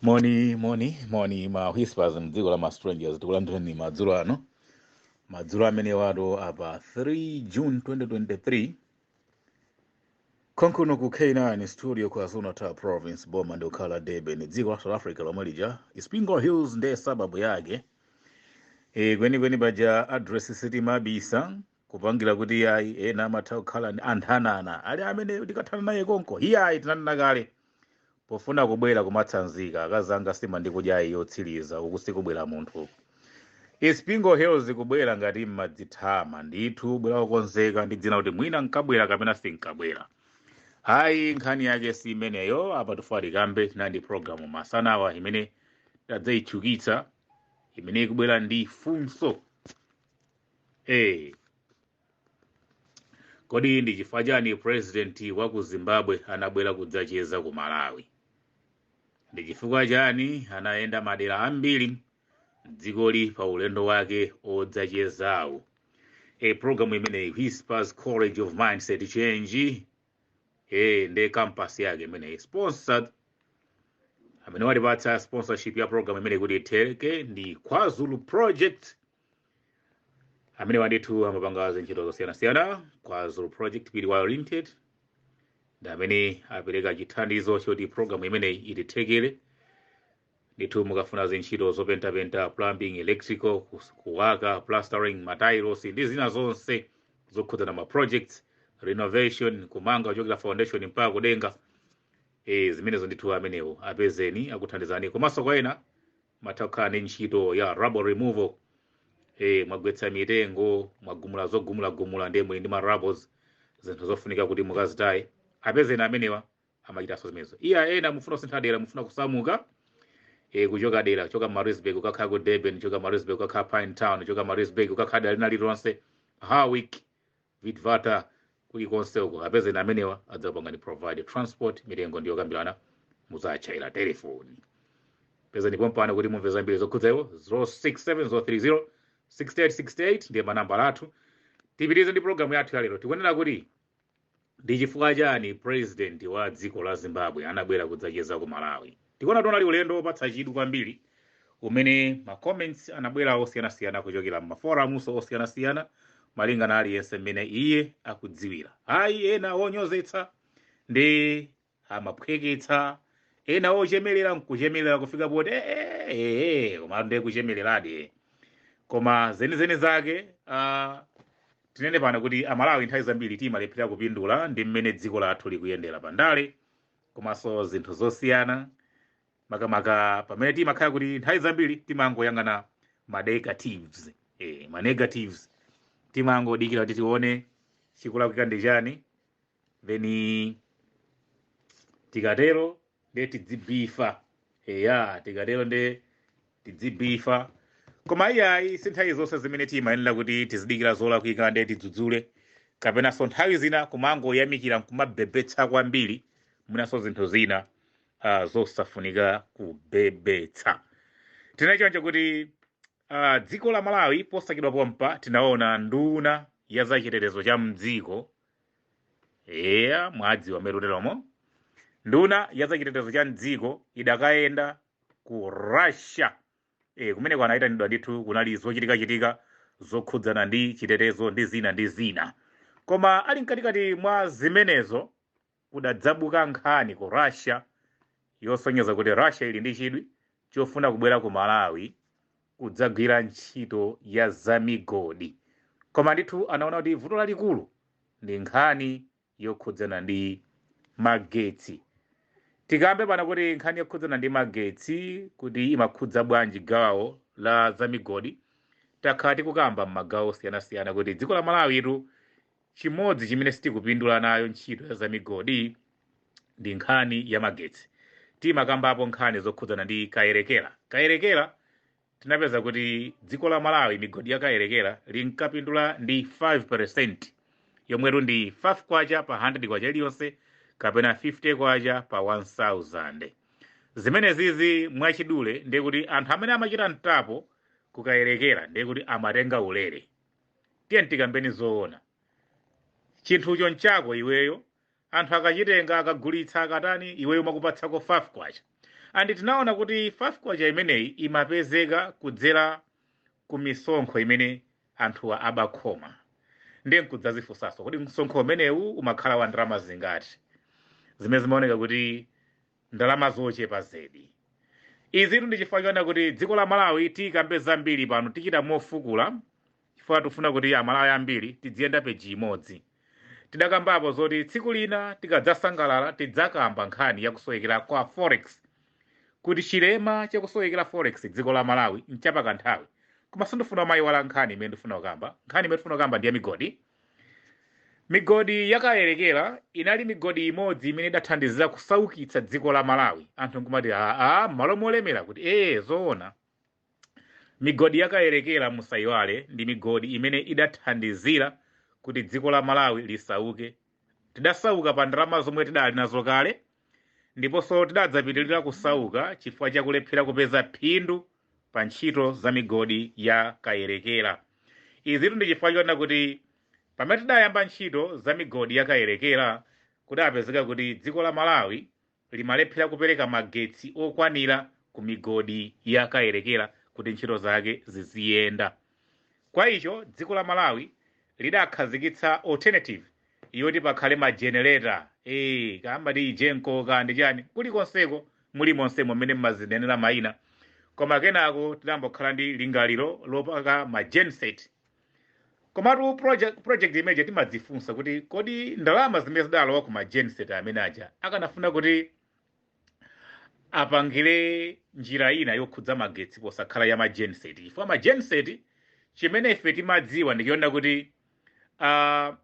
moni moni moni ma whispers mdziko la ma strangers tikulandirani madzulo ano madzulo amenewatu apa 3 june 2023 konkuno ku k9 studio KwaZulu Natal province boma ndi lokhala Durban dziko la south africa lomwe lija Isipingo Hills ndiye sababu yake e, kwenikweni paja address sitimabisa kupangira kuti iyayi ena amatha kukhala ndi anthanana ali amene ndikathana naye konko iyayi tinanena kale pofuna kubwera kumatsanzika akazi anga nsima ndi kudya yotsiriza uku sikubwera munthu uku Isipingo Hills kubwera ngati mmadzitama ndithu bwera wokonzeka ndi dzina kuti mwina nkabwera kapena sinkabwera ayi nkhani yake si imeneyo apa tufali kambe tili ndi programu masanawa imene tidzayitchukitsa imene ikubwera ndi funso Hey. Kodi ndi chifukwa chani president wa ku Zimbabwe anabwera kudzacheza ku Malawi? Ndi chifukwa chani anayenda madera ambiri mdzikoli pa ulendo wake odzachezawo? E programu imeneyi Whispers College of Mindset Change eh nde campus yake imeneyi sponsored amene watipatsa sponsorship ya program imeneyi kuti itheke ndi kwazulu project amenewa ndithu amapanga zintchito zosiyanasiyana kwazulu project people oriented ndi amene apereka chithandizo choti program imeneyi itithekere ndithu mukafuna zintchito zopentapenta plumbing electrical kus- kuwaka plastering matailosi ndi zina zonse zokhudzana ma projects renovation kumanga kuchokera foundation mpaka kudenga e, zimenezo ndithu amenewo apezeni akuthandizani komanso kwa ena mutha kukhala ndi ntchito ya rubble removal e, mwagwetsa mitengo mwagumula zogumulagumula ndiye muli ndi ma rubbles zinthu zofunika kuti mukazitaye apezeni amenewa amachitanso zimenezo iya ena mufuna kusintha dera mufuna kusamuka e, kuchoka dera kuchoka Maritzburg kukakhala ku durban kuchoka Maritzburg kukakhala Pinetown kuchoka Maritzburg kukakhala dera lina lililonse Howick vitvata kulikonse uko apezeni amenewa adzapangani provide transport mitengo ndi yokambirana mudzatchayira telefoni pezani pompano kuti mumve zambiri zokhudza iwo 067030 6868 ndiye manambala athu tipitirize ndi programu yathu yalero tikunena kuti ndi chifukwa chani president wa dziko la zimbabwe anabwera kudzacheza ku malawi tikuona kuti unali ulendo wopatsa chidwi kwambiri umene ma comments anabwera osiyanasiyana kuchokera m'maforamunso osiyanasiyana malingana aliyense mmene iye akudziwira ayi ena onyozetsa ndi amaphweketsa ena ochemelera nkuchemelera kufika poti "Eh, eh, eh, eh," koma ndiye kuchemeleradi koma zenizeni zake ah, tinene pano kuti amalawi nthawi zambiri timalephera kupindula ndi mmene dziko lathu likuyendera pandale komanso zinthu zosiyana makamaka pamene timakhala kuti nthawi zambiri timangoyang'ana ma negatives eh, ma negatives timangodikira kuti tione chikulakwika ndi chani then tikatero nde tidzibifa eya tikatero nde tidzibifa koma iyayi si nthawi zonse zimene timayenera kuti tizidikira zolakwika nde tidzudzule kapenanso nthawi zina kumangoyamikira nkumabebetsa kwambiri mwinanso zinthu zina uh, zosafunika kubebetsa tinachoncho kuti Uh, dziko la Malawi posachedwa pompa tinaona nduna ya zachitetezo cha mdziko eya mwadziwa mmene tateremo nduna ya zachitetezo cha mdziko idakayenda ku Russia e, kumeneko anayitanidwa ndithu kunali zochitikachitika zokhudzana ndi chitetezo ndi zina ndi zina koma ali mkatikati mwa zimenezo kudadzabuka nkhani ku Russia yosonyeza kuti Russia ili ndi chidwi chofuna kubwera ku Malawi kudzagwira ntchito ya zamigodi. Koma ndithu anaona kuti vuto lalikulu ndi nkhani yokhudzana ndi magetsi. Tikambe pano kuti nkhani yokhudzana ndi magetsi kuti imakhudza bwanji gawo la zamigodi takhala tikukamba m'magawo osiyanasiyana kuti dziko la Malawitu chimodzi chimene sitikupindula nayo ntchito ya zamigodi ndi nkhani ya magetsi timakambapo nkhani zokhudzana ndi Kayerekera Kayerekera tinapeza kuti dziko la malawi migodi ya Kayerekera linkapindula ndi 5% yomwetu ndi 5 kwacha pa 100 kwacha iliyonse kapena 50 kwacha pa 1000 zimenezizi mwachidule ndiye kuti anthu amene amachita mtapo ku Kayerekera ndiye kuti amatenga ulere tiyeni tikambeni zoona chinthucho nchako iweyo anthu akachitenga akagulitsa akatani iweyo nkukupatsako 5 kwacha andi tinaona kuti 5 kwacha imeneyi imapezeka kudzera ku misonkho imene anthuwa amakhoma ndiye nkudzadzifunsanso kodi msonkho umenewu umakhala wa ndalama zingati zimene zimaoneka kuti ndalama zochepa zedi. Izitu ndi chifukwa choona kuti dziko la Malawi tikambe zambiri pano tichita mofukula chifukwa tikufuna kuti Amalawi ambiri tidziyenda peji imodzi. Tidakambapo zoti tsiku lina tikadzasangalala tidzakamba nkhani ya kusowekera kwa forex kuti chilema chakusowekera forex dziko la Malawi nchapakanthawi. Koma sindifuna kuyiwala nkhani imene ndifuna kukamba. Nkhani imene ndifuna kukamba ndi ya migodi. Migodi ya Kayelekera inali migodi imodzi imene idathandizira kusaukitsa dziko la Malawi. Anthu nkumati aa, m'malo molemera kuti ee zoona. Migodi ya Kayelekera musaiwale ndi migodi imene idathandizira kuti dziko la Malawi lisauke. Tidasauka pa ndalama zomwe tidali nazo kale ndiponso tidadzapitirira kusauka chifukwa cha kulephera kupeza phindu pa ntchito za migodi ya Kayelekera. Izitu ndi chifukwa chonena kuti pamene tidayamba ntchito za migodi ya Kayelekera kudapezeka kuti dziko la Malawi limalephera kupereka magetsi okwanira ku migodi ya Kayelekera kuti ntchito zake ziziyenda. Kwa icho dziko la Malawi lidakhazikitsa alternative yoti pakhale ma generator eh kamba ndi Egenco ka ndi chani kulikonseko mulimonsemo mmene mmazinenera maina koma kenako tidambokhala ndi lingaliro lopanga ma genset komatu project, project imeneja timadzifunsa kuti kodi ndalama zimene zidalowa ku ma genset amene aja akanafuna kuti apangire njira ina yokhudza magetsi posakhala ya ma genset chifukwa ma genset chimene ife timadziwa ndi chonena kuti uh,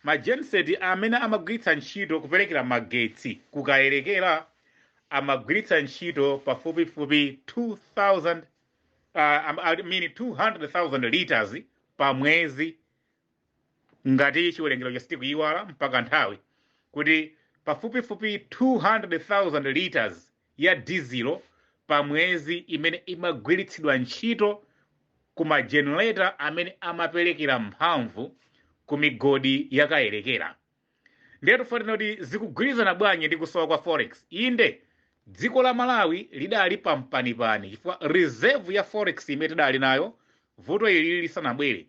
ma genset amene amagwiritsa ntchito kuperekera magetsi ku Kayelekera amagwiritsa ntchito pafupifupi 2000 uh, am- I mean 200,000 liters pa mwezi ngati chiwerengero chake sitikuiwala mpaka nthawi kuti pafupifupi 200,000 liters ya dizilo pa mwezi imene imagwilitsidwa nchito ku ma generator amene amapelekela mphamvu ku migodi ya Kayelekela. Ndiye tifuna tinene kuti zikugwilizana bwanji ndi kusowa kwa forex. Inde, dziko la Malawi lidali pa mpanipani chifukwa reserve ya forex imene tidali nayo vuto ili lisanabwele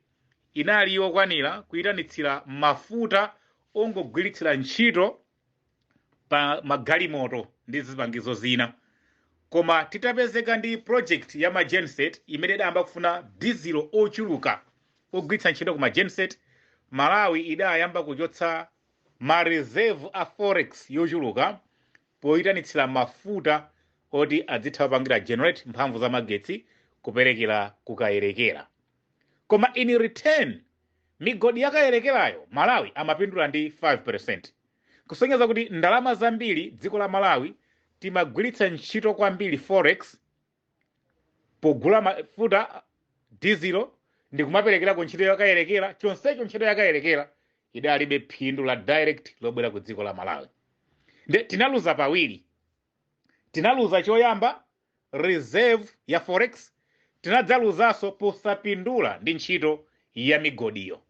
inali yokwanila kuitanitsila mafuta ongogwilitsila nchito pa magalimoto ndi zipangizo zina koma titapezeka ndi project ya ma genset imene idayamba kufuna dizilo ochuluka ogwiritsa ntchito ku ma genset Malawi idayamba kuchotsa ma reserve a forex yochuluka poyitanitsira mafuta oti adzitha kupangira generate mphamvu za magetsi kuperekera ku Kayelekera koma in return migodi ya Kayelekerayo Malawi amapindula ndi 5% kusonyeza kuti ndalama zambiri dziko la Malawi timagwiritsa ntchito kwambiri forex pogula mafuta dizilo ndi kumaperekera ku ntchito ya Kayelekera chonsecho ntchito ya Kayelekera idalibe phindu la direct lobwera ku dziko la Malawi nde tinaluza pawiri tinaluza choyamba reserve ya forex tinadzaluzaso posapindula ndi ntchito ya migodiyo.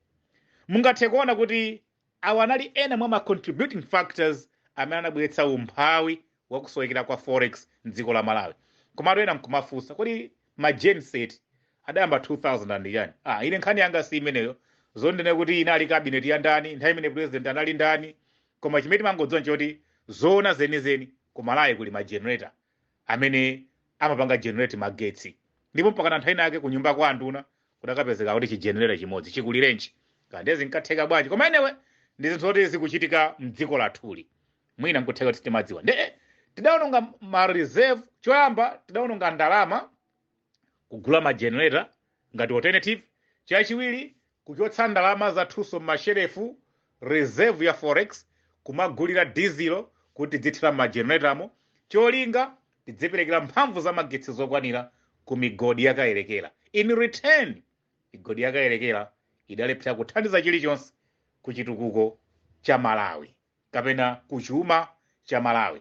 Mungathe kuona kuti awa anali ena mwa ma contributing factors amene anabweretsa umphawi wa kusowekera kwa forex m'dziko la Malawi. Komatu ena nkumafunsa kodi ma gen set adayamba 2000 and chani? Ah, ine nkhani yanga si imeneyo zoti ndinene kuti inali cabinet ya ndani, nthawi imene president anali ndani, koma chimene timangodziwa nchoti zoona zenizeni ku Malawi kuli ma generator amene amapanga generate magetsi ndipo mpakana nthawi inayake ku nyumba kwa anduna kudakapezeka kuti chigenerator chimodzi chikulirenji kaya ndiye zinkatheka bwanji koma anyway ndi zinthu zoti zikuchitika mdziko lathuli mwina nkutheka kuti timadziwa nde tidaononga ma reserve choyamba tidaononga ndalama kugula ma generator ngati alternative, chachiwiri kuchotsa ndalama zathunso m'mashelefu, reserve ya forex, kumagulira dizilo kuti tidzithira m'ma generatamo, cholinga tidziperekera mphamvu za magetsi zokwanira ku migodi ya Kayelekera. In return, migodi ya Kayelekera idalephera kuthandiza chilichonse ku chitukuko cha Malawi kapena ku chuma cha Malawi.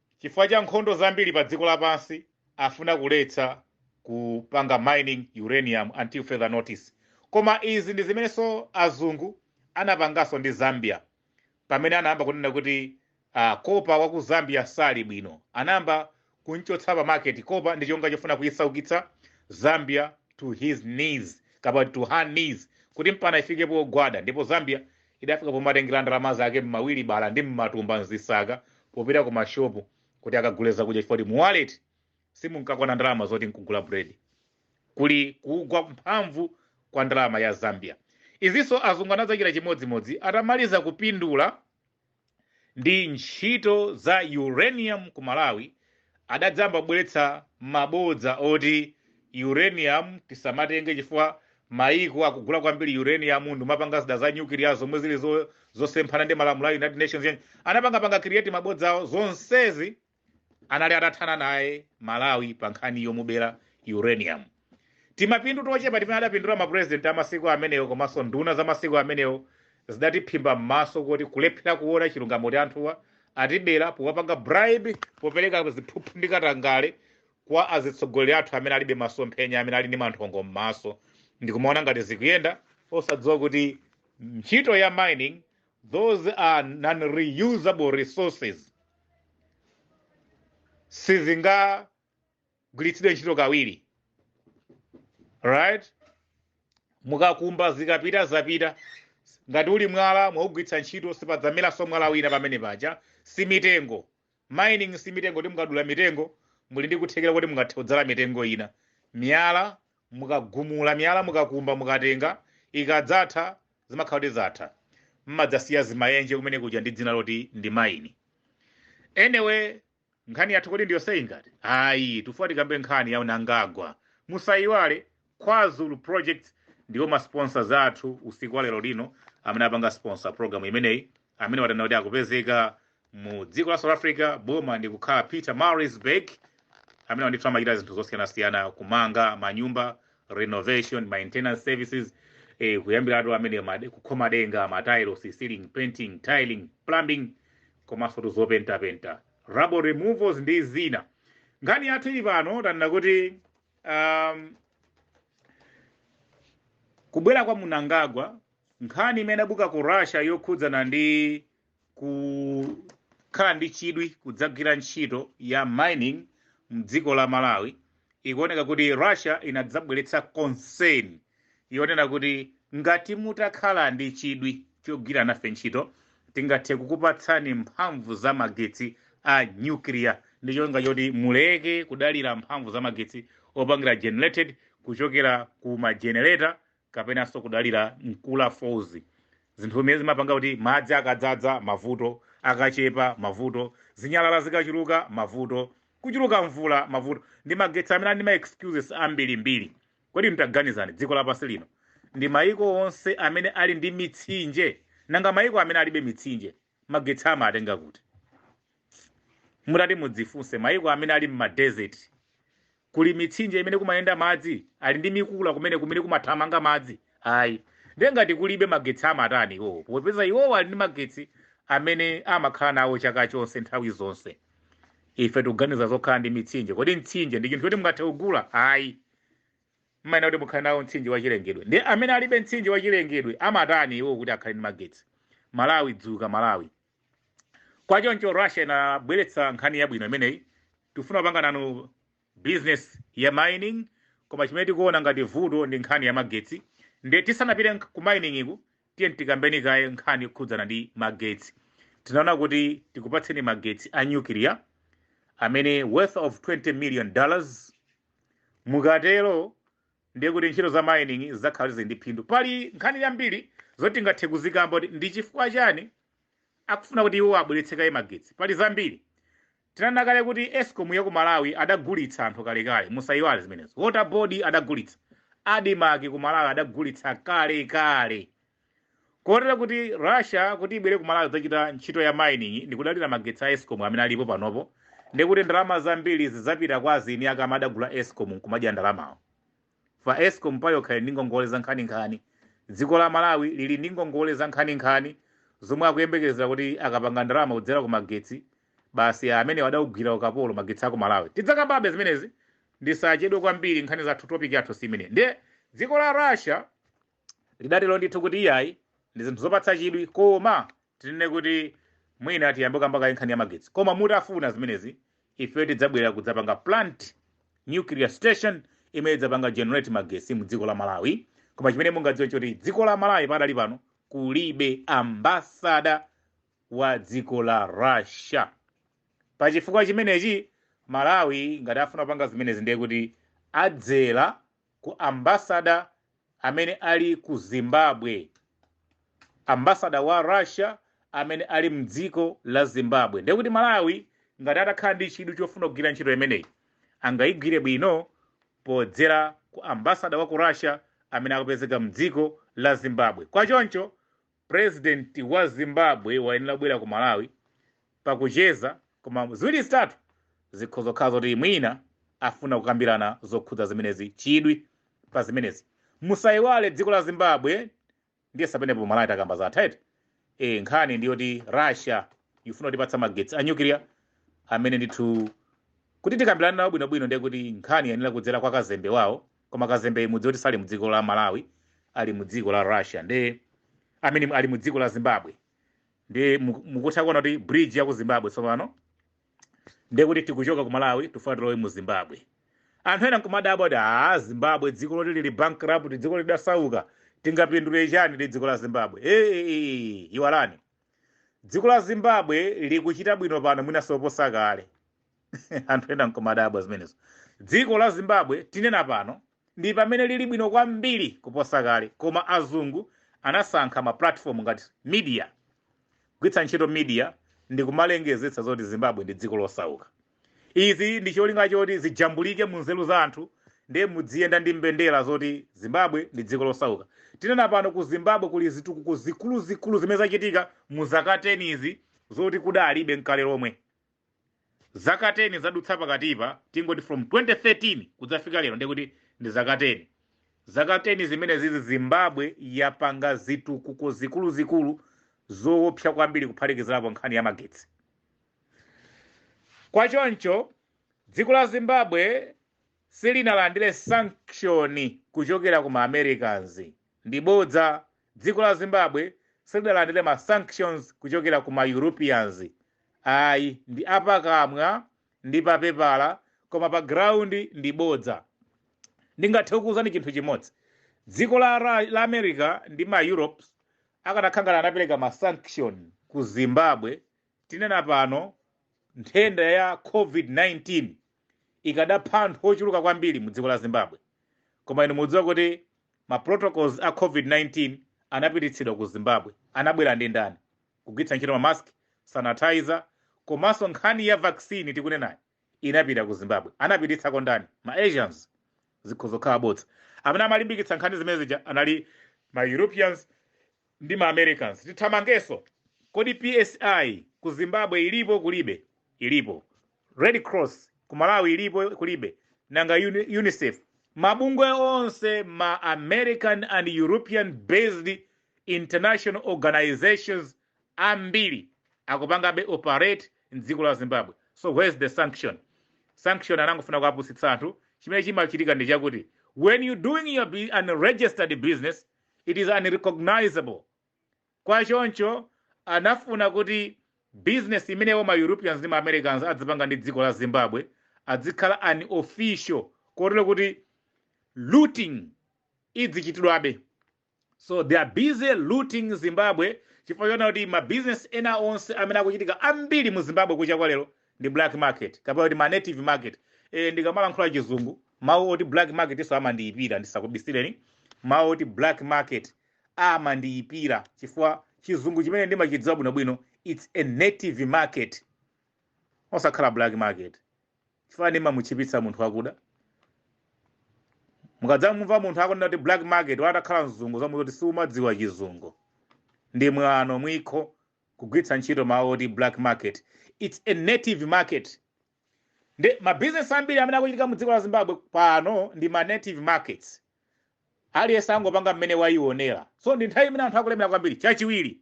Chifukwa cha nkhondo zambiri pa dziko lapansi, afuna kuletsa kupanga mining uranium until further notice. Koma izi ndi zimenenso azungu anapanganso ndi Zambia pamene anayamba kunena kuti ah, kopa wa ku Zambia sali bwino. Anayamba kumchotsa pa market kopa ndi chonga chofuna kuyisaukitsa Zambia to his knees kapa to her knees kuti mpana ifike pogwada ndipo Zambia Idafika pomatengera ndalama zake m'mawilibala ndi m'matumba m'zisaka popita ku mashopu kuti akagule zakudya chifukwa choti mu wallet simunkakwana ndalama zoti nkugula bread. Kuli kugwa mphamvu kwa ndalama ya Zambia. Izinso azungu anadzachita chimodzimodzi atamaliza kupindula ndi ntchito za uranium ku Malawi adadzamba kubweretsa mabodza oti uranium tisamatenge chifukwa maiko akugula kwambiri uranium ndimapanga zida za nyukiliya zomwe zili zo- zosemphana ndi malamulo a United Nations anapanga panga create mabodzawo zonsezi anali atathana naye malawi pa nkhani yomubera uranium timapindu tochepa timene adapindula mapurezidenti amasiku amenewo komanso nduna za masiku amenewo zidatiphimba m'maso kuti kulephera kuona chilungamo choti anthuwa atibera powapanga bribe popereka ziphuphu ndi katangale kwa azitsogoleri athu amene alibe masomphenya amene ali ndi manthongo m'maso ndikumaona ngati zikuyenda osadziwa kuti ntchito ya mining those are non-reusable resources sizingagwiritsidwe ntchito kawiri right mukakumba zikapita zapita ngati uli mwala mwaugwiritsa ntchito sipadzameraso mwala wina pamene paja si mitengo Mining simitengo kuti mukadula mitengo muli ndi kuthekera kuti mungathe kudzala mitengo ina. Miyala mukagumula miyala mukakumba mukatenga ikadzatha zimakhala kuti zatha. Mmadzasiya zimayenje kumene kudya ndi dzina loti ndi mine. Anyway nkhani yathu kodi ndiyonse ingati? Ayi tufuwa tikambe nkhani ya Mnangagwa. Musayiwale KwaZulu Projects ndiwo ma sponsors athu usiku wa lero lino amene apanga sponsor program imeneyi amenewa tanena kuti akupezeka mu dziko la South Africa boma ndi kukhala Peter Marisburg amenewa ndithu amachita zinthu zosiyanasiyana kumanga manyumba renovation maintenance services eh, kuyambiratu amene made- kukhoma denga matiles ceiling painting tiling plumbing komanso zopentapenta rubble removals ndi zina nkhani yathu ili pano tanena kuti um, kubwera kwa Mnangagwa nkhani imene yabuka ku russia yokhudzana ndi kukhala ndi chidwi kudzagwira ntchito ya mining mdziko la malawi ikuoneka kuti russia inadzabweretsa concern yonena kuti ngati mutakhala ndi chidwi chogwira nafe ntchito tingathe kukupatsani mphamvu za magetsi a nuclear ndi cholinga choti muleke kudalira mphamvu za magetsi opangira generated kuchokera ku majenereta kapenanso kudalira Nkula Falls zinthu zimene zimapanga kuti madzi akadzadza mavuto akachepa mavuto zinyalala zikachuluka mavuto kuchuluka mvula mavuto ndi magetsi amene ali ndi ma excuses ambirimbiri Kodi taganizani, dziko lapansi lino ndi mayiko onse amene ali ndi mitsinje, nanga mayiko amene alibe mitsinje magetsi amatenga kuti? Mutati mudzifunse, mayiko amene ali m'ma desert, kuli mitsinje imene kumayenda madzi? Ali ndi Nkula kumene kumene kumathamanga madzi? Ayi. Ndiye ngati kulibe magetsi amatani iwowo, popeza iwowo ali ndi magetsi amene amakhala nawo chaka chonse nthawi zonse? Ife tikuganiza zokhala ndi mitsinje. Kodi mtsinje ndi chinthu choti mungathe kugula? Ayi. mmayenera kuti mukhale nawo mtsinje wa chilengedwe nde amene alibe mtsinje wa chilengedwe amatani iwo kuti akhale ndi magetsi malawi dzuka malawi kwa choncho russia inabweretsa nkhani yabwino imeneyi tifuna kupanga nanu business ya mining koma chimene tikuona ngati vuto ndi nkhani ya magetsi nde tisanapite nk- ku mining iku tiye tikambe kaye nkhani yokhudzana ndi magetsi tinaona kuti tikupatseni magetsi a nuclear amene worth of 20 million dollars Mukatero ndiye kuti ntchito za mining zidzakhala zili ndi phindu. Pali nkhani yambiri zoti tingathe kuzikamba kuti ndi chifukwa chani akufuna kuti iwo abweretse kaye magetsi. Pali zambiri. Tinanena kale kuti escom ya ku Malawi adagulitsa anthu kalekale, musayiwale zimenezo. Water board adagulitsa. Admarc ku Malawi adagulitsa kalekale. Kotero kuti Russia kuti ibwere ku Malawi kudzachita ntchito ya mining ndikudalira magetsi a Escom amene alipo panopo ndekuti ndalama zambiri zidzapita kwa azini ake amene adagula Escom nkumadya ndalamawo. Chifukwa Escom payokha ili ndi ngongole zankhaninkhani. Dziko la Malawi lili ndi ngongole zankhaninkhani zomwe akuyembekezera kuti akapanga ndalama kudzera ku magetsi basi amene adawagwira ukapolo magetsi a ku Malawi. Tidzakambabe zimenezi ndisachedwe kwambiri nkhani zathu topic yathu si imeneyi. Ndiye dziko la Russia Lidatero ndithu kuti iyayi, ndi zinthu zopatsa chidwi koma tinene kuti mwina tiyambe kukamba kaye nkhani ya magetsi. Koma mutafuna zimenezi, ife tidzabwera kudzapanga plant, nuclear station, imene idzapanga generate magetsi mu dziko la Malawi. Koma chimene mungadziwe n'choti dziko la Malawi pakadali pano kulibe ambassador wa dziko la Russia. Pa chifukwa chimenechi, Malawi ngati afuna kupanga zimenezi ndiye kuti adzera ku ambassador amene ali ku zimbabwe ambassador wa russia amene ali mdziko la zimbabwe ndiye kuti malawi ngati atakhala ndi chidwi chofuna kugwira ntchito imeneyi angayigwire bwino podzera ku ambassador wa ku russia amene akupezeka mdziko la zimbabwe kwa choncho President wa Zimbabwe wayenera kubwera ku Malawi pakucheza koma ziwiri zitatu zikhoza kukhala zoti mwina afuna kukambirana zokhudza zimenezi chidwi pa zimenezi musayiwale dziko la Zimbabwe ndiye sapenepo Malawi takamba zathu eti e, nkhani ndi yoti Russia ifuna kutipatsa magetsi a nuclear amene ndithu kuti tikambirane nawo bwinobwino ndiye kuti nkhani yayenera kudzera kwa kazembe wawo koma kazembeyi mudziwe kuti sali mdziko la malawi ali mdziko la russia ndiye amene ali mdziko la zimbabwe ndiye mu- mukutha kuona kuti bridge ya ku zimbabwe tsopano ndiye kuti tikuchoka ku malawi tifuna tilowe mu zimbabwe anthu ena nkumadabwa kuti a zimbabwe dziko loti lili bankrupt dziko lidasauka tingapindule chani ndi dziko la zimbabwe ee iwalani dziko la zimbabwe likuchita bwino pano mwinanso kuposa kale anthu ena nkumadabwa zimenezo dziko la zimbabwe tinena pano ndi pamene lili bwino kwambiri kuposa kale koma azungu anasankha ma platform ngati media kugwiritsa ntchito media ndi kumalengezetsa zoti zimbabwe ndi dziko losauka izi ndi cholinga choti zijambulike mu nzeru za anthu ndiye mudziyenda ndi mbendera zoti zimbabwe ndi dziko losauka tinena pano ku zimbabwe kuli zitukuko zikuluzikulu zimene zachitika mu zaka 10 izi zoti kudalibe nkale lomwe zaka 10 zadutsa pakatipa tingoti from 2013 kudzafika lero ndiye kuti ndi zaka 10 zaka 10 zimenezizi zimbabwe yapanga zitukuko zikuluzikulu zoopsa kwambiri kuphatikizirapo nkhani ya magetsi kwa choncho dziko la zimbabwe si linalandira sanction kuchokera ku ma americans Ndi bodza, dziko la Zimbabwe silidalandire ma sanctions kuchokera ku ma Europeans ayi, ndi apakamwa ndi papepala koma pa ground ndi bodza. Ndingathe kukuuzani chinthu chimodzi, dziko la Ra la America ndi ma Europes akanakhala ngati anapereka ma sanction ku Zimbabwe, tinena pano nthenda ya Covid 19, ikadapha anthu ochuluka kwambiri mu dziko la Zimbabwe. Koma inu mudziwa kuti ma protocols a COVID-19 anapititsidwa ku Zimbabwe. Anabwera ndi ndani? Kugwiritsa ntchito ma mask, sanitizer, komanso nkhani ya vaccine tikunenayi inapita ku Zimbabwe. Anapititsako ndani? Ma Asians. Zikhoza kukhala bodza. Amene amalimbikitsa nkhani zimenezija anali ma Europeans ndi ma Americans tithamangenso kodi psi ku Zimbabwe ilipo kulibe ilipo red cross ku Malawi ilipo kulibe nanga Uni- UNICEF mabungwe onse ma American and European based international organizations ambiri akupangabe operate mdziko la Zimbabwe so where's the sanction sanction anangofuna kuapusitsa anthu chimene chimachitika ndi chakuti when you doing your bu- unregistered business it is unrecognizable kwa choncho anafuna kuti business imeneyo ma europeans ndi ma americans adzipanga ndi dziko la zimbabwe adzikhala unofficial kotero kuti looting idzichitidwabe so they are busy looting zimbabwe chifukwa chona kuti ma business ena onse amene akuchitika ambiri mu zimbabwe kucha kwa lero ndi black market kapena kuti ma native market e, ndikamalankhula chizungu mawu oti black market iwo amandiyipira ndisakubisireni mawu oti black market amandiyipira chifukwa chizungu chimene ndimachidziwa bwinobwino its a native market osakhala black market chifukwa nimamutchipitsa munthu wakuda mukadzamumva munthu akunena kuti black market watakhala mzungu dzamuuze kuti siumadziwa chizungu ndi mwano mwikho kugwiritsa ntchito mawu oti black market, its a native market nde ma business ambiri amene akuchitika mu dziko la Zimbabwe pano ndi ma native markets aliyense angopanga mmene waionera so ndi nthawi imene anthu akulemera kwambiri chachiwiri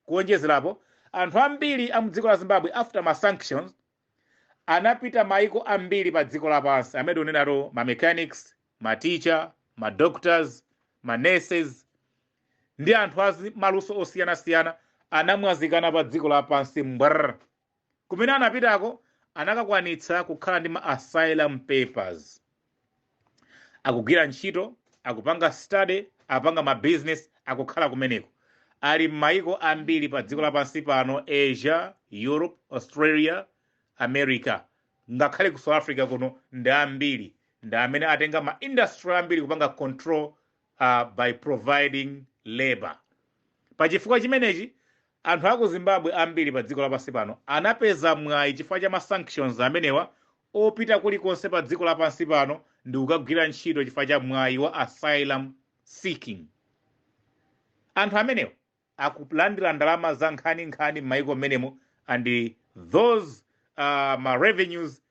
kuwonjezerapo anthu ambiri a mu dziko la Zimbabwe after ma sanctions anapita maiko ambiri pa dziko lapansi mmene tikunenamu ma mechanics ma teacher ma doctors ma nurses ndi anthu a zi- maluso osiyanasiyana anamwazikana pa dziko lapansi mbr kumene anapitako anakakwanitsa kukhala ndi ma asylum papers akugwira ntchito akupanga study apanga ma business akukhala kumeneko ali m'mayiko ambiri pa dziko lapansi pano asia europe australia america ngakhale ku south africa kuno ndi ambiri ndi amene atenga ma industry ambiri kupanga control uh, by providing labor pa chifukwa chimenechi anthu aku zimbabwe ambiri pa dziko lapansi pano anapeza mwayi chifukwa cha ma sanctions amenewa opita kulikonse pa dziko lapansi pano ndi kukagwira ntchito chifukwa cha mwayi wa asylum seeking. Anthu amenewa akulandira ndalama za nkhani nkhani m'mayiko mmenemo and those uh, ma revenues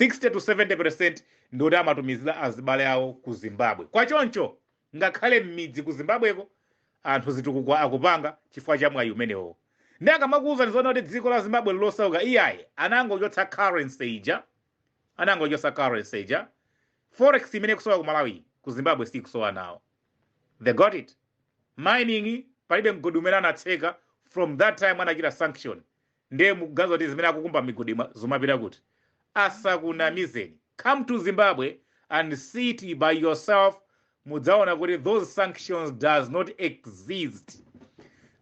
60 to 70 percent ndioti amatumizira azibale awo ku Zimbabwe. Kwa choncho ngakhale mmidzi ku zimbabweko anthu chitukuko akupanga chifukwa cha mwayi umenewowo ndi akamakuwuzani zonena kuti dziko la zimbabwe lilosauka iyayi anangochotsa currency ija anangochotsa currency ija forex imene ikusowa ku malawi ku zimbabwe sikusowa nawo they got it mining palibe mgodi umene anatseka from that time anachita sanction nde mukuganiza kuti zimene akukumba migodi ma- zomapita kuti asakunamizeni come to zimbabwe and see it by yourself mudzaona kuti those sanctions does not exist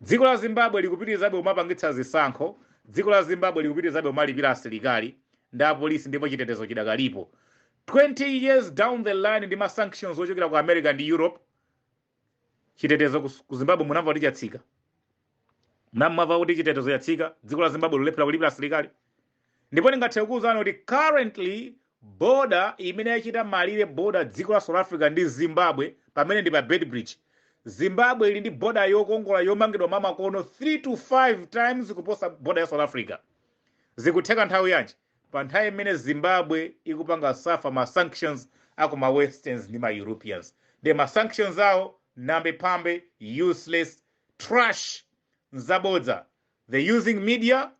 dziko la zimbabwe likupitirizabe kumapangitsa zisankho dziko la zimbabwe likupitirizabe kumalipira asilikali ndi apolisi ndipo chitetezo chidakalipo 20 years down the line ndi masanctions ochokera ku america ndi europe chitetezo kus- ku zimbabwe munamva kuti chatsika munamva kuti chitetezo chatsika dziko la zimbabwe lolephera kulipira asilikali ndipo ndingathe kukuwuzani kuti currently boda imene yachita malire boda dziko la south africa ndi zimbabwe pamene ndi pa Beitbridge zimbabwe ili ndi boda yokongola yomangidwa mamakono 3 to 5 times kuposa boda ya south africa zikutheka nthawi yanji Pa nthawi imene Zimbabwe ikupanga suffer ma sanctions aku ma westerns ndi ma Europeans. Ndiye ma sanctions awo namby pamby useless trash nzabodza they using media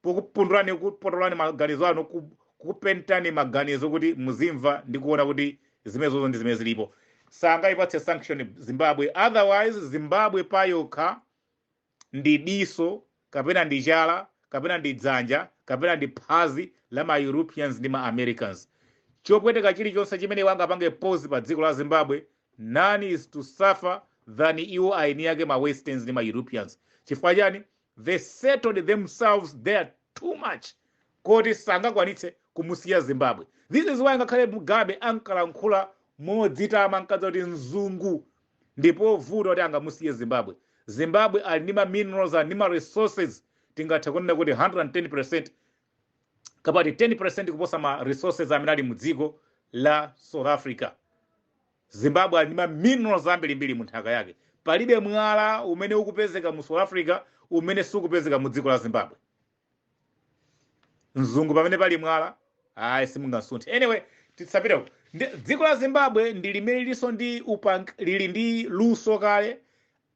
pokupundulani kukupotolani maganizo anu ku kukupentani maganizo kuti muzimva ndi kuona kuti zimenezozo ndi zimene zilipo. Sangayipatse sanction Zimbabwe otherwise Zimbabwe payokha ndi diso kapena ndi chala kapena ndi dzanja kapena ndi phazi la ma Europeans ndi ma Americans. Chopweteka chilichonse chimene iwo angapange pose pa dziko la Zimbabwe, none is to suffer than iwo aeni ake ma Westerns ndi ma Europeans. Chifukwa chani? They settled themselves there too much koti sangakwanitse kumusiya Zimbabwe. This is why ngakhale Mugabe ankalankhula modzitama ankadziwa kuti mzungu ndipovuta kuti angamusiye Zimbabwe. Zimbabwe ali ndi ma minerals ali ndi ma resources tingathe kunena kuti 110% kapena 10% kuposa ma resources amene ali mu dziko la South Africa. Zimbabwe ali ndi ma minerals ambirimbiri mu nthaka yake. Palibe mwala umene ukupezeka mu South Africa umene sukupezeka mu dziko la Zimbabwe. mzungu pamene pali mwala ayi simungamusunthe anyway tisapiteko Ndi- dziko la zimbabwe ndi limene lilinso ndi upang lili ndi luso kale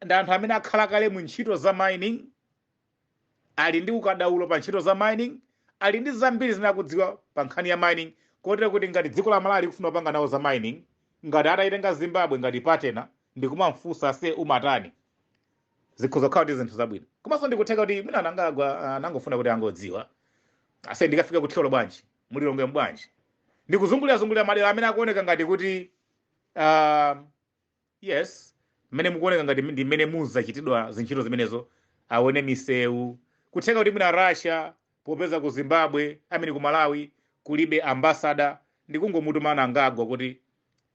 ndi anthu amene akhala kale mu ntchito za mining ali ndi ukadaulo pa ntchito za mining ali ndi zambiri zimene akudziwa pa nkhani ya mining kotero kuti ngati dziko la malawi likufuna kupanga nawo za mining ngati atayitenga zimbabwe ngati partner ndikumamfunsa ase umatani zikhoza kukhala kuti zinthu zabwino komanso ndikutheka kuti mwina a Mnangagwa anangofuna kuti angodziwa ase ndikafika ku thyolo bwanji mu Lilongwe bwanji ndikuzungulira zungulira madera amene akuoneka ngati kuti uh, yes mmene mukuoneka ngati ndi mmene muzachitidwa zintchito zimenezo aone misewu kutheka kuti mwina russia popeza ku zimbabwe a mean ku malawi kulibe ambasada ndikungomutuma Mnangagwa kuti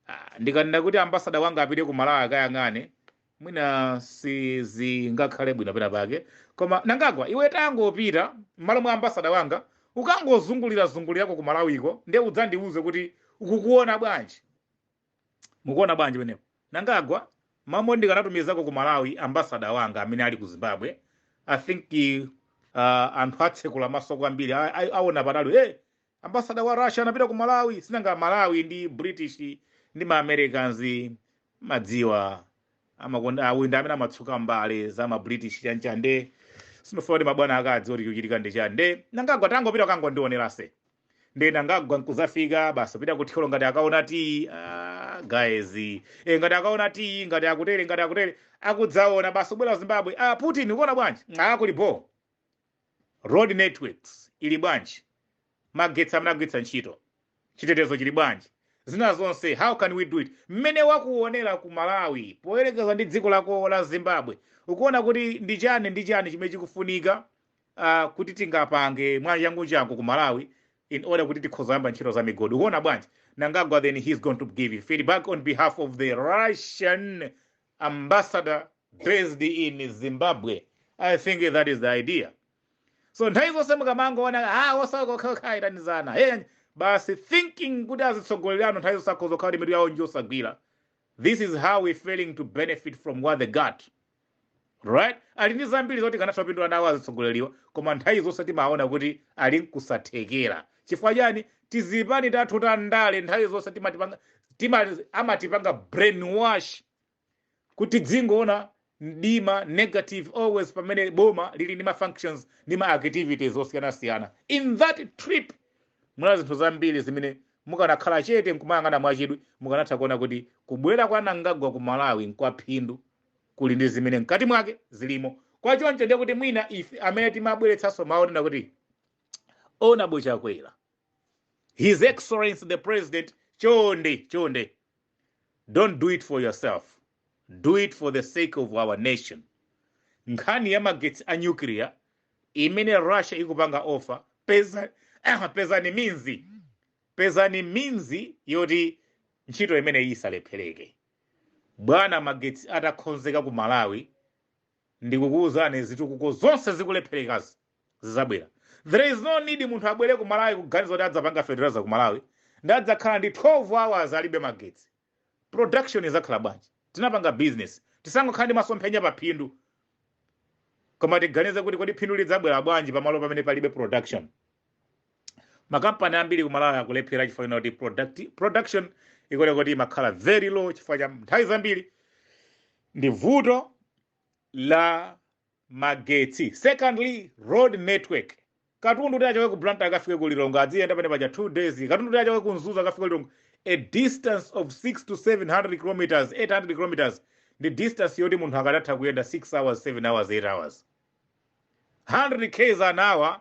ah, ndikanena kuti ambasada wanga apite ku malawi akayang'ane mwina sizingakhale bwino pena pake koma Mnangagwa iwe tangopita m'malo mwa ambasada wanga ukangozungulira zungulirako ku malawiko nde udzandiuze kuti ukukuona bwanji mukuona bwanji penepo Mnangagwa mwamva ndikanatumizako ku malawi ambasada wanga amene ali ku zimbabwe i think uh, anthu atsekula maso kwambiri a- a- aona patali hey, Ambassador wa Russia anapita ku Malawi sinanga Malawi ndi British ndi ma Americans madziwa amakonda awa ndi amene amatsuka mbale za ma British chani chani nde sindifuna kuti mabwana akadziwe kuti chochitika ndi chani nde Mnangagwa tangopita kangondionera ase nde Mnangagwa nkuzafika basi pita ku Thyolo ngati akaona tiyi ah, guys e, ngati akaona tiyi ngati akutere ngati akutere akudzaona basi kubwera ku Zimbabwe ah, Putin ukuona bwanji ah, kuli boo Road networks ili bwanji? Magetsi amene akugwiritsa ntchito? Chitetezo chili bwanji? Zina zonse how can we do it? Mmene wakuonera ku Malawi poyerekeza ndi dziko lako la Zimbabwe, ukuona kuti ndi chani ndi chani chimene chikufunika ah, kuti tingapange mwachanguchangu ku Malawi in order kuti tikhoza kuyamba ntchito za migodi? Ukuona bwanji? Mnangagwa then he's going to give you feedback on behalf of the Russian ambassador based in zimbabwe i think that is the idea so nthawi zonse mukamangoona a osauka okhaokha ayitanizana hey, basi thinking kuti azitsogoleri anu nthawi zonse akhoza kukhala kuti mitu yawo njosagwira this is how we failing to benefit from what they got right ali ndi zambiri zoti tikanatha kupindula nawo azitsogoleriwa koma nthawi zonse timaona kuti ali ndi kusathekera Chifukwa chani? Tizipani tathu ta ndale nthawi zonse timatipanga, tima, amatipanga brainwash kuti tidzingoona mdima, negative always pamene boma lili ndi ma functions ndi ma activities osiyanasiyana. In that trip munali zinthu zambiri zimene mukanakhala chete nkumayang'ana mwachidwi mukanatha kuona kuti kubwera kwa Mnangagwa ku Malawi nkwaphindu, kuli ndi zimene mkati mwake zilimo. Kwa choncho ndiye kuti mwina ife amene timabweretsanso mawu onena kuti. Honorable Chakwera, His Excellency the President, chonde chonde, don't do it for yourself, do it for the sake of our nation. Nkhani ya magetsi a nuclear imene Russia ikupanga offer, peza pezani means, pezani means yoti ntchito imeneyi isalephereke. Bwana magetsi atakhonzeka ku Malawi, Ndikukuuzani zitukuko zonse zikulepherekazi zizabwera. There is no need munthu abwere ku Malawi kuganiza kuti adzapanga fertilizer ku Malawi ndi adzakhala ndi 12 hours alibe magetsi. Production izakhala bwanji? Tikapanga business. Tisangokhala ndi masomphenya pa phindu. Koma tiganize kuti kodi phindu lidzabwera bwanji pamalo pamene palibe production. makampani ambiri ku malawi akulephera chifukwa chonena kuti product, production ikuoneka kuti imakhala very low chifukwa cha nthawi zambiri ndi vuto la magetsi secondly road network katundu kuti achoke ku blantyre akafike ku lilongwe aziyenda pamene paja two days katundu kuti achoke ku mzuzu akafike ku lilongwe a distance of 6 to 700 kilometers 800 kilometers ndi distance yoti munthu akadatha kuyenda 6 hours 7 hours 8 hours 100 k's an hour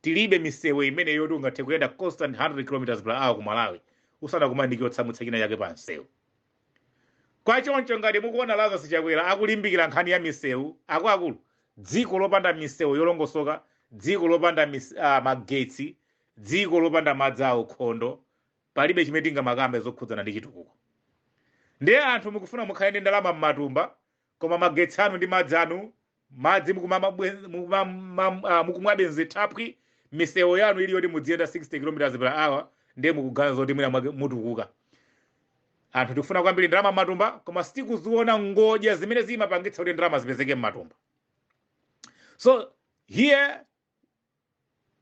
tilibe misewu imene yoti ungathe kuyenda constant 100 kilometers per hour ku malawi usanakumane ndi chotsamwitsa china chake pa msewu kwa choncho ngati mukuona lazarus chakwera akulimbikira nkhani ya misewu akuluakulu dziko lopanda misewu yolongosoka dziko lopanda mis, uh, magetsi dziko lopanda madzi a ukhondo palibe chimene tingamakambe zokhudzana ndi chitukuko ndiye anthu mukufuna mukhale ndi ndalama m'matumba Koma magetsi anu ndi madzi anu, madzi mukumamabwe- mukumamam- ah, mukumwabe m'zithaphwi, misewu yanu ili yoti mudziyenda 60 km per hour ndiye mukuganiza zoti mwina mwake mutukuka. Anthu tikufuna kwambiri ndalama m'matumba koma sitikuziona ngodya zimene zimapangitsa kuti ndalama zipezeke m'matumba. So here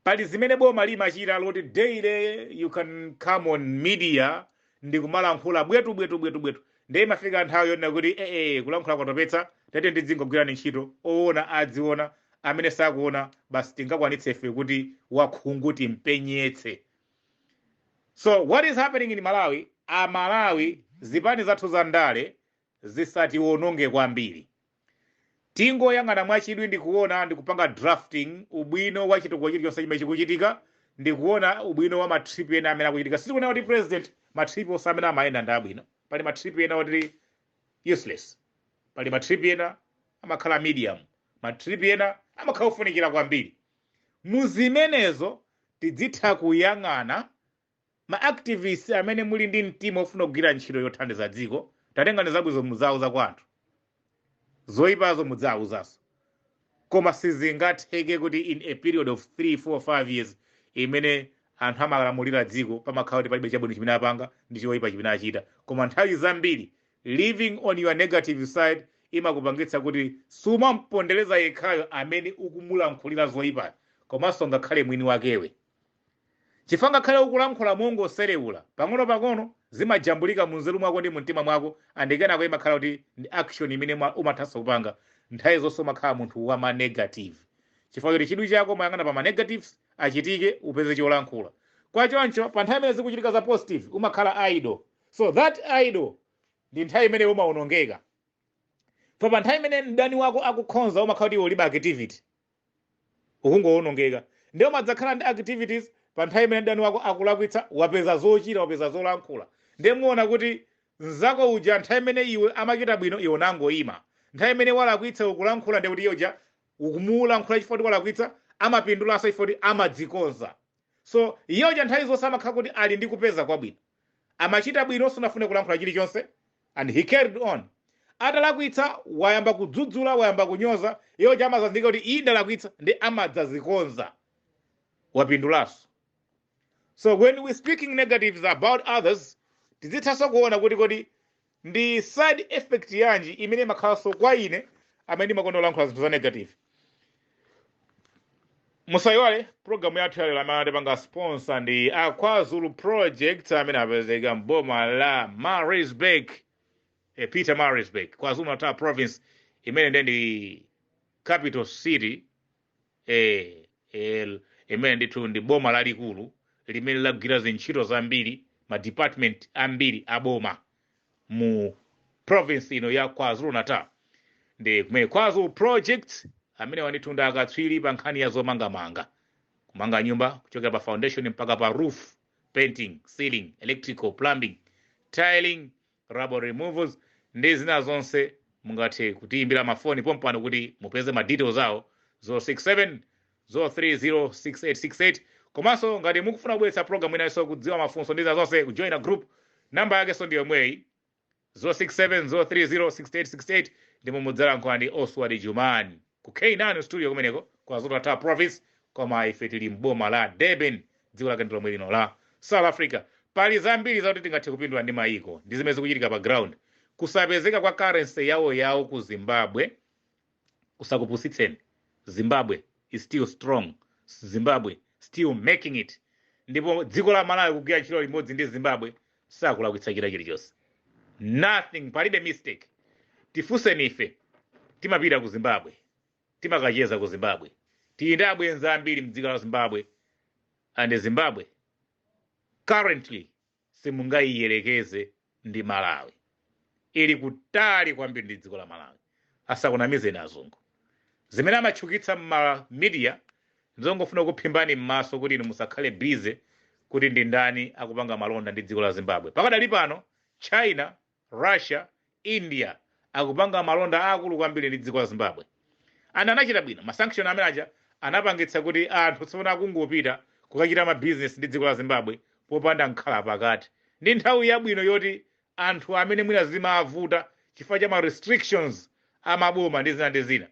pali zimene boma limachita zoti daily you can come on media ndi kumalankhula bwetu bwetu bwetu bwetu ndiye imafika nthawi yonena kuti ee kulankhula kwatopetsa tete ndidzingogwirani ntchito oona adziona amene sakuona basi tingakwanitse ife kuti wakhungu timpenyetse so what is happening in malawi amalawi zipani zathu za ndale zisatiwononge kwambiri Tingoyang'ana mwachidwi ndi kuona ndi kupanga drafting ubwino wa chitukuko chilichonse chimene chikuchitika ndi kuona ubwino wa ma trip ena amene akuchitika. Sitikunena kuti president ma trip onse amene amayenda ndi abwino. Pali ma trip ena oti useless. Pali ma trip ena amakhala medium. Ma trip ena amakhala ofunikira kwambiri. Mu zimenezo tidzitha kuyang'ana Ma activists amene muli ndi mtima ofuna kugwira ntchito yothandiza dziko, tatengani zabwinozo mudzawuza kwa anthu, zoipazo mudzawuzanso. Koma sizingatheke kuti in a period of 3, 4, 5 years imene anthu amalamulira dziko pamakhala kuti palibe chabwino chimene apanga ndi choipa chimene achita. Koma nthawi zambiri living on your negative side imakupangitsa kuti sumampondereza yekhayo amene ukumulankhulira zoipayo komanso ngakhale mwini wakewe. Chifukwa ngakhale ukulankhula mongoserewula, pang'ono pang'ono zimajambulika munzeru mwako ndi mumtima mwako and kenako imakhala kuti ndi action imene uma- umathanso kupanga. Nthawi zonse umakhala munthu wa ma negative. Chifukwa choti chidwi chako umayang'ana pa ma negatives achitike upeze cholankhula. Kwa choncho pa nthawi imene zikuchitika za positive umakhala idle. So that idle ndi nthawi imene iwe umawonongeka. Chifukwa pa nthawi imene mdani wako akukonza umakhala kuti iwe ulibe activity. ukungowonongeka nde umadzakhala ndi activities pa nthawi imene mdani wako akulakwitsa wapeza zochita wapeza zolankhula nde muona kuti mnzako uja nthawi imene iye amachita bwino iwe unangoima nthawi imene walakwitsa ukulankhula ndekuti iye uja ukumulankhula chifukwa choti walakwitsa amapindulanso chifukwa choti amadzikonza so iye uja nthawi zonse amakhala kuti ali ndi kupeza kwabwino amachita bwino sunafune kulankhula chilichonse And he carried on. Atalakwitsa wayamba kudzudzula, wayamba kunyoza, iye uja amadzazindikira kuti iyi ndalakwitsa nde amadzazikonza. Wapindulanso. So when we speaking negatives about others, tizithanso kuona kuti kodi ndi side effect yanji imene imakhalanso kwa ine amene ndimakonda kulankhula zinthu za negative. musayiwale pulogalamu yathu yalero amene atipanga sponsor ndi a kwazulu project amene apezeka mboma la maritzburg e pietermaritzburg kwazulu natal province imene nde ndi capital city eh, eh, imene ndithu ndi boma lalikulu limene lagwira zintchito zambiri ma department ambiri a boma mu province ino ya kwazulu natal nde kumene kwazulu project amenewa ndithu ndi akatswiri pa nkhani ya zomangamanga kumanga nyumba kuchokera pa foundation mpaka pa roof painting ceiling electrical plumbing tiling rubble removals ndi zina zonse mungathe kutiyimbira mafoni pompano kuti mupeze ma details awo 067 0306868 komanso ngati mukufuna kubweretsa program inanso kudziwa mafunso ndi za zonse kujoina group namba yakenso ndi yomweyi 0670306868 ndimo mudzalankhula ndi oswald jumani ku k9 studio kumeneko kwa zulu natal province koma ife tili mboma la durban dziko lake ndi lomwe lino la south africa pali zambiri zakuti tingathe kupindula ndi mayiko ndi zimene zikuchitika pa ground kusapezeka kwa currency yawo yawo ku zimbabwe kusakupusitseni zimbabwe is still strong zimbabwe still making it ndipo dziko la malawi kugwira ntchito limodzi ndi zimbabwe sakulakwitsa china chilichonse nothing palibe mistake tifunseni ife timapita ku zimbabwe timakacheza ku zimbabwe tili ndi abwenzi ambiri mdziko la zimbabwe and zimbabwe currently simungaiyelekeze ndi malawi ili kutali kwambiri ndi dziko la malawi asakunamizeni azungu zimene amatchukitsa mma media nzongofuna kuphimbani m'maso kuti inu musakhale busy kuti ndi ndani akupanga malonda ndi dziko la zimbabwe pakadali pano china Russia, India akupanga malonda aakulu kwambiri ndi dziko la Zimbabwe and anachita bwino. Ma sanction amene aja anapangitsa kuti anthu tsopano akungopita kukachita ma business ndi dziko la Zimbabwe popanda mkhalapakati. Ndi nthawi yabwino yoti anthu amene mwina zimavuta chifukwa cha ma restrictions a maboma ndi zina ndi zina,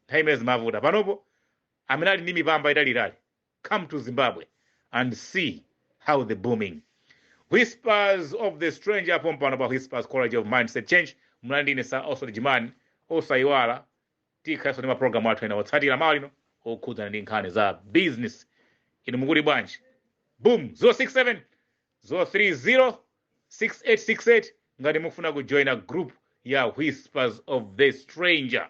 nthawi imene zimavuta. Panopo amene ali ndi mipamba italiitali come to zimbabwe and see how the booming whispers of the stranger pompano pa whispers college of mindset change muli ndi ine sir oswald jumani osayiwala tikhalenso ndi maprogramu athu ena otsatira mmawa uno okhudzana ndi nkhani za business inu mukuti bwanji boom 067 0306868 ngati mufuna kujoina group ya whispers of the stranger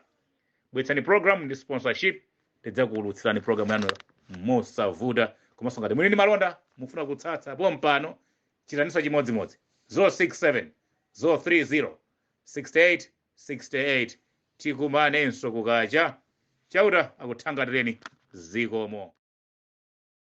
bweretsani program ndi sponsorship tidzakuulutsirani program yanu mosavuta komanso ngati muli ndi malonda mufuna kutsatsa pompano chitaninso chimodzimodzi 067 030 68 68 tikumanenso kukacha chauta akuthangatireni zikomo